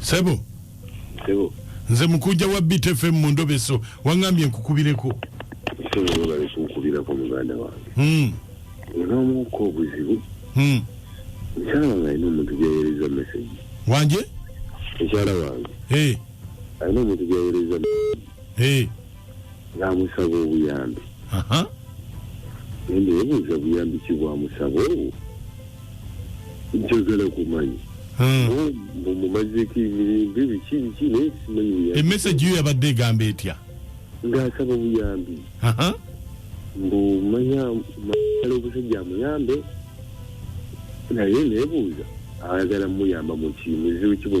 sebo sebo nze mukunja wa btfm mu ndobeso wangambye nkukubireko hmm. naamuuka obuzibu hmm. mukyala wange alina omuntu gyawereza mesegi wanje mukyala wange alina omuntu gyawereza mesegi namusaba obuyambi nende yebuuza buyambi ki bwamusaba obwo njagala kumanyi mumumazeko hmm. emirembe biki biki naye simanyi buyambi emesagi yo yabadde egamba etya ngaasaba obuyambi mbu manya mala obusajja amuyambe naye nebuuza ayagala muyamba mukimuzibu kibwe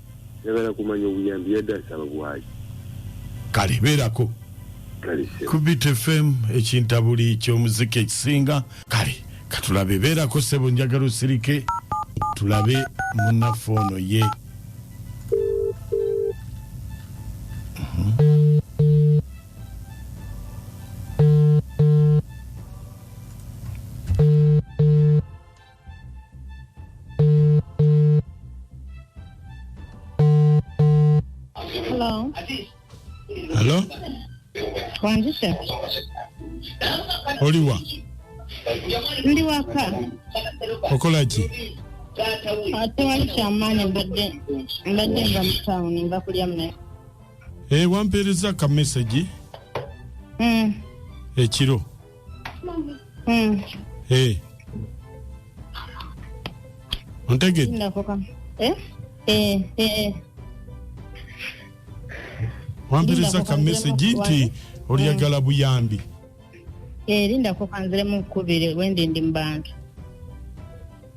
njagala kumanya obuyambi yadde asaba bwaki kale beerako ku btfm ekintabuli kyomuziki ekisinga kale katulabe beerako sebo njagala osirike tulabe munaffe ono ye Hello. Hello? Wanzisha. Oliwa. Ndi waka. Okola ki? Ate wali kyamaanyi mbadde mbadde nva mu tawuni nva kulya mmere. Eh, wampeereza ka message. Mm. Ekiro. Mm. Eh. ontegedde Sindako kama. Eh? Eh, eh. wampiriza Linda, ka mesegi kubanziremu nti kubanza. olyagala buyambi Eh, lindako kanziremu nkubire wendi ndi mu bantu.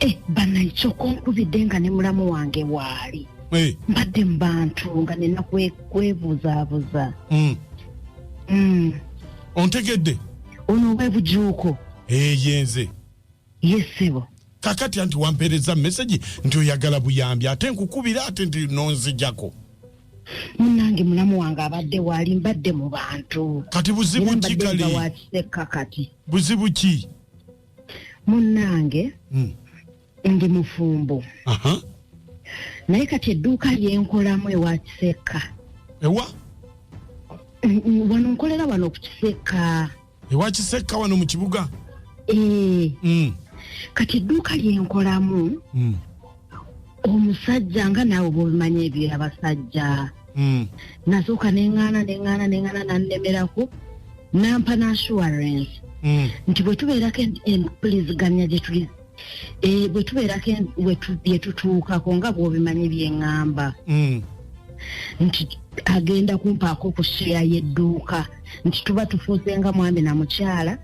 Eh, bana nkyoko nkubidde nga ne mulamu wange waali Eh, mbadde mu bantu nga nina kwe- kwebuzabuza mm. Mm, ontegedde ono webujuuko Eh, yenze yesebo kakati anti wampeereza mesegi nti oyagala buyambi ate nkukubira ate nti nonzijako munange mulamu wange abadde waali mbadde mu bantu kati era buzibu ki mbadde nga kale wakiseka kati buzibu ki munnange hmm. ndi mufumbo naye kati edduuka lyenkolamu ewa kisekka ewa wano nkolera wano ku kisekka ewa kisekka wano mu kibuga ee eh. hmm. kati edduuka lyenkolamu hmm. omusajja nga naawe bwobimanyi ebyo abasajja hmm. nasooka neŋŋaana neŋŋaana neŋŋaana nannemerako nampa naassurance hmm. nti bwe tubeerako empuliziganya gye tuli eh, bwe tubeerako bye tutuukako nga bwobimanyi byeŋŋamba hmm. nti agenda kumpaako ku sheya y'edduuka nti tuba tufuuse nga mwami na mukyala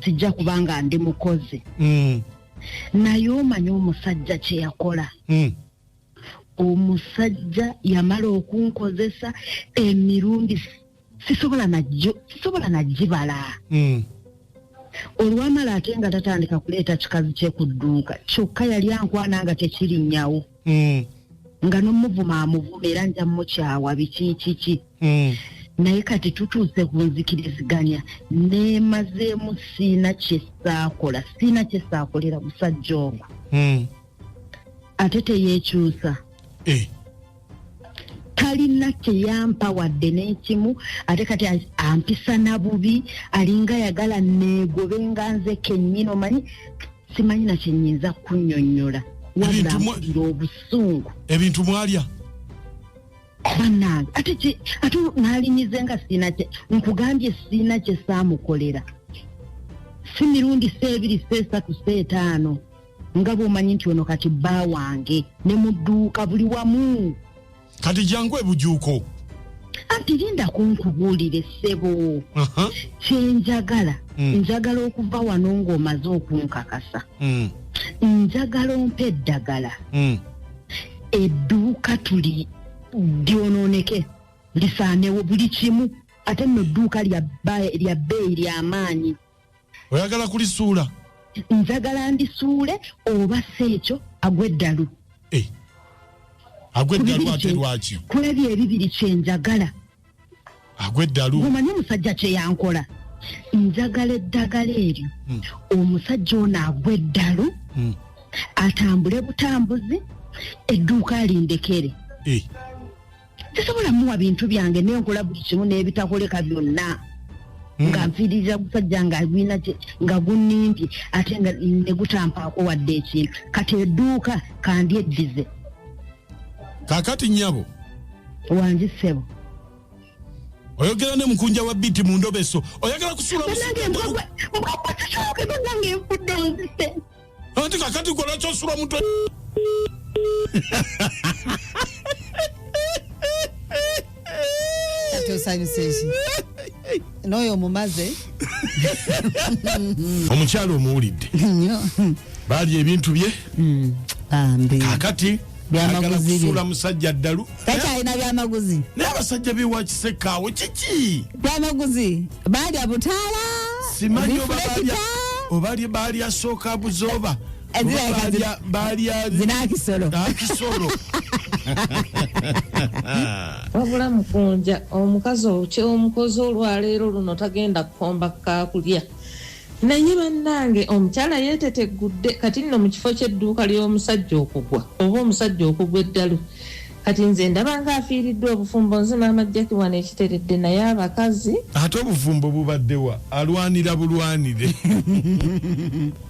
sijja kubanga ndi mukozi naye omanyi omusajja kye yakola hmm. omusajja yamala okunkozesa emirundi sisobola najjo sisobola najibala hmm. olwamala ate nga tatandika kuleeta kikazi kye ku dduuka kyokka yali ankwana nga tekirinyawo Mm, nga nomuvuma amuvuma era nja mukyawa bikikiki mm. naye kati tutuuse ku nzikiriziganya nemazeemu siina kyesaakola siina kyesaakolera musajja ogo Mm. ate teyekyusa Eh, talina kyeyampa wadde n'ekimu ate kati a- ampisa na bubi alinga yagala neegobe nga nze kennyini omanyi simanyi na kyenyinza kunyonyola wabula mpulira obusungu ebintu mwalya banange ate ki ate nalinyize nga siina kye nkugambye siina kye saamukolera si mirundi seebiri seesatu seetaano nga bwomanyi nti ono kati bba wange ne mudduuka buli wamu kati jangu ebujuuko anti linda kunkubuulire ssebo kyenjagala mm. njagala okuva wano ng'omaze okunkakasa mm. njagala ompa eddagala mm. edduuka tuli lyonooneke lisaanewo buli kimu ate nno edduuka lya bbeeyi ly'amaanyi oyagala kulisuula njagala ndisuule oba si ekyo agwa eddalu eh. agwa eddalu ate lwaki kulabya ebibiri kyenjagala agwa eddalu omanyi omusajja kyeyankola njagala eddagala eryo hmm. omusajja ono agwa eddalu hmm. atambule butambuzi edduuka alindekere eh. sisobola muwa bintu byange naye nkola buli kimu n'ebitakoleka byonna hmm. nga nfiiririza gusajja nga gwina nga gunnimbye ate nga negutampaako wadde ekintu kati edduuka kandyeddize kakati nyabo wangi ssebo oyogera ne mukunja wa biti mu ndobeso oyagala kusuula anti kakati gwe lwaki osula omutwe kati osanyusa eki n'oyo omumaze omukyala omuwulidde nyo baalya ebintu bye bambi kakati agala kusuula musajja ddalu takyalina byamaguzi naye abasajja bewakisekaawo kiki byamaguzi baalya butaala simanyi obalya baalya sooka buzooba zinakisolo wabula mukunja omukazi omukozi olwaleero luno tagenda kukomba kakulya Naye bannange omukyala yeeteteggudde kati nno mu kifo ky'edduuka ly'omusajja okugwa oba omusajja okugwa eddalu kati nze ndaba nga afiiriddwa obufumbo nze maama jaki wano ekiteredde naye abakazi ate obufumbo bubaddewa alwanira bulwanire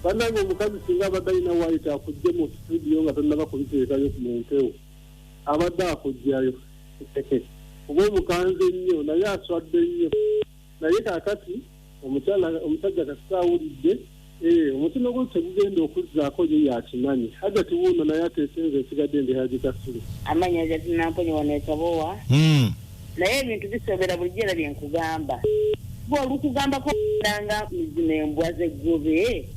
banange omukazi singa abadde alina wayita akujje mu studio nga tonnaba kubiteekayo ku mumpewo abadde akujjayo kuba omukanzi ennyo naye aswadde nnyo naye kakati omukyala omusajja kasita awulidde eh, omutindo gwe tegugenda okuzzaako ye yakimanyi hajati wuuno naye atesenza esigadde ndi haji kasule amanya hajati namponye wano ekabowa hmm. naye ebintu bisobera bulijjo era byenkugamba gwe olukugambako ndanga mizima embwa zeggobe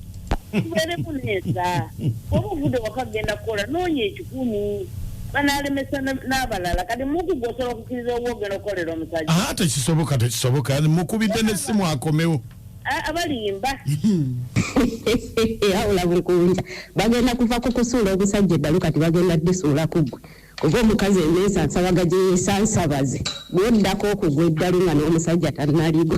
tubeeremu neesa oba ovudde waka kugenda kukola noonya ekikumi banalemesa n'abalala kati muku gwosobola okukkiriza oba ogenda okukolera omusajja aa ah, tekisoboka tekisoboka mukubidde n'essimu akomewo abalimba awula buli kuwulira bagenda kuva ku kusuula omusajja eddalu kati bagenda disuula ku ggwe kuba omukazi emeesa nsabaga gye yeesansabaze bwoddako okugwa eddalu nga n'omusajja tannaligo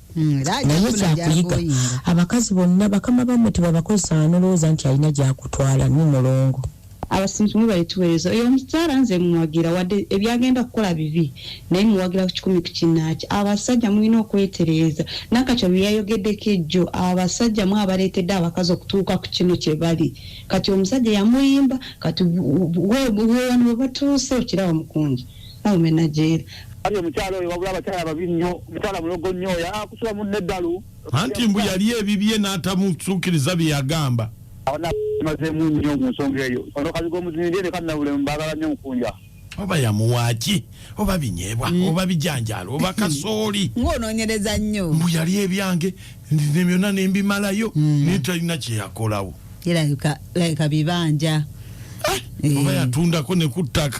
Hmm, naye kyakuyiga abakazi bonna bakama bamwe tebabakozesa anolowooza nti alina gyakutwala ni mulongo abasinzi mwe balituweereza oyo omukyala nze muwagira wadde ebyagenda kukola bibi naye muwagira ku kikumi ku kinaaki abasajja mulina okwetereeza nakatyo byeyayogeddeko ejjo abasajja mwe abaleetedde abakazi okutuuka ku kino kye bali kati omusajja yamuyimba kati wewano webatuuse okiraba mukungi Oh menajeri. Ayo mukyalo oyo wabula abakyala babi nnyo mukyala mulogo nnyo oyo akusula munne eddalu anti mbu yali ebibye n'atamusuukiriza bye yagamba abanaamazeemu nnyo mu nsonga eyo ono kazi g'omuzinirye ne kannabulemu baagala nnyo mukunja oba yamuwaaki oba binyeebwa mm. oba bijanjaalo oba kasooli ng'onoonyereza nnyo mbu yali ebyange ne byonna ne mbimalayo mm. naye talina kye yakolawo Yalabika like bibanja. Eh. oba yatundako ne ku ttaka